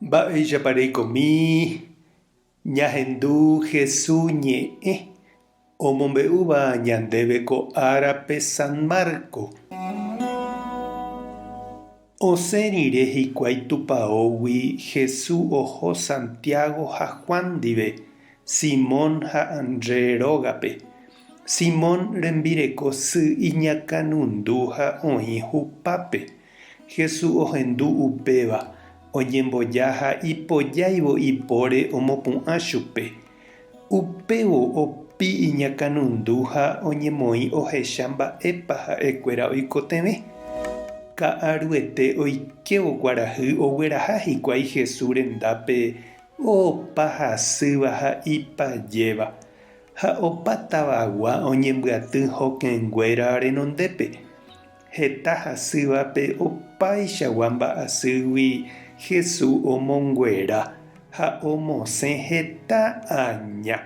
Mba'éichapa reikomi ñahendu Hesu ñe'ẽ omombe'úva ñandéve ko árape San Marco? Osẽ rire hikuái tupaógui Hesu oho Santiago ha Juan ndive, Simón ha André rógape. Simón rembireko sy iñakãnundu ha oĩ hupápe. Jesús ohendu upéva, oñemboja ha ipojáivo ipóre omopu'ã chupe. Upévo opi iñakãnundu ha oñemoĩ ohecha mba'épa ha'ekuéra oikotevẽ. Ka'aruete oikévo kuarahy ogueraha hikuái Jesús rendápe opa hasýva ha ipajéva, ha opa tavagua oñembyaty hokẽnguéra renondépe. Heta hasývape opaichagua mba'asýgui Hesu omonguera ha omosẽ heta aña.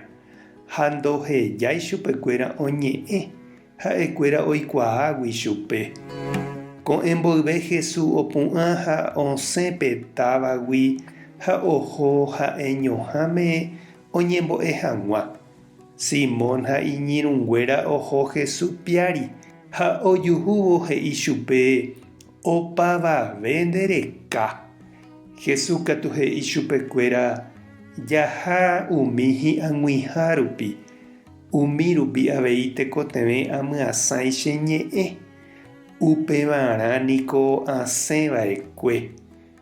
Ha ndohejái chupekuéra oñe'ẽ ha'ekuéra oikuaágui chupe. Ko'ẽ mboyve Hesu opu'ã ha osẽ pe távagui ha oho ha'eñoháme oñembo'e hag̃ua. Simón ha iñirũnguéra oho Hesu piári ha ojuhúvo he'i chupe, Opavave nde reka. Hesu katu he'i chupekuéra, Jaha umi hi'ag̃uiha rupi, umi rupi avei tekotevẽ amyasãi che ñe'ẽ. Upevarã niko asẽ vaekue.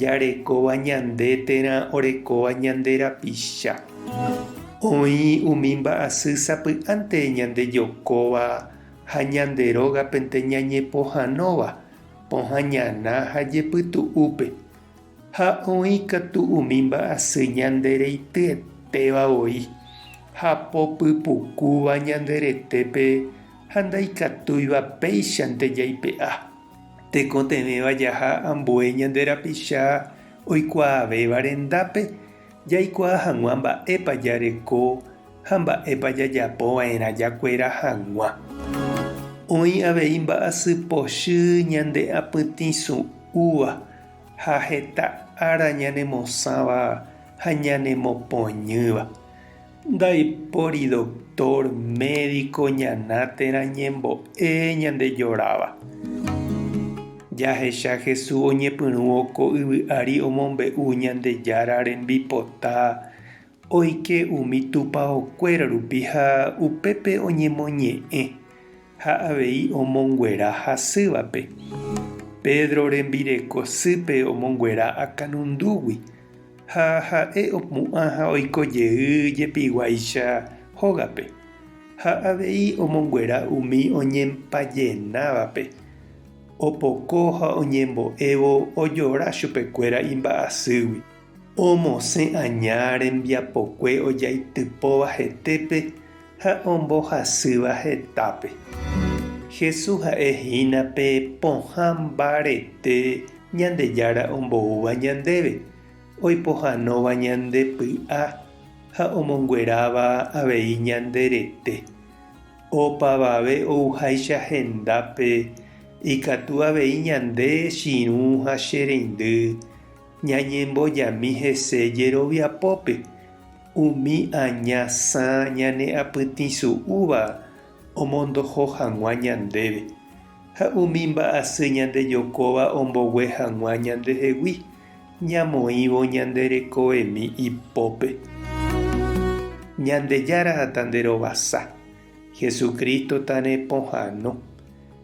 Jarekóva ñande térã orekóva ñande rapicha. Oĩ umi mba'asy sapy'ánte ñandejokóva ha ñande rógapente ñañepohãnóva pohã ñana ha jepytu'úpe. Ha oĩ katu umi mba'asy ñandereityetéva voi, hapo pypukúva ñande retépe ha ndaikatúiva péichante jaipe'a. Tekotevẽva jaha ambue ñande rapicha oikuaavéva rendápe, jaikuaa hag̃ua mba'épa jareko ha mba'épa jajapo va'erã jakuera hag̃ua. Oĩ avei mba'asy pochy ñande apytĩ su'úva ha heta ára ñanemosãva ha ñanemopoñýva. Ndaipóri doctor, médico ñana térã ñembo'e ñande joráva. Jahecha Jesús oñepyrũvo ko yvy ári omombe'u Ñandejára rembipota oike umi tupaokuéra rupi ha upépe oñemoñe'ẽ. Ha avei omonguera hasývape. Pedro rembireko sýpe omonguera akanundúgui, ha ha'e opu'ã ha oiko jey jepiguáicha hógape. Ha avei omonguera umi oñempajenávape. Opoko ha oñembo'évo ojora chupekuéra imba'asýgui. Omosẽ aña rembiapokue ojaitypóva hetépe ha ombohasýva hetápe. Jesús ha'e hína pe pohã mbarete Ñandejára omboúva ñandéve, oipohãnóva ñande py'a ha omongueráva avei ñande rete. Opavave ouháicha hendápe, ikatu avei ñande chirũ ha che reindy, Ñañembojami hese jeroviapópe, umi aña sã ñane apytĩsu'úva omondoho hag̃ua ñandéve, ha umi mba'asy ñandejokóva ombogue hag̃ua ñandehegui, ñamoĩvo ñande rekoemi ipópe. Ñandejára tanderovasa, Jesucristo tanepohãno.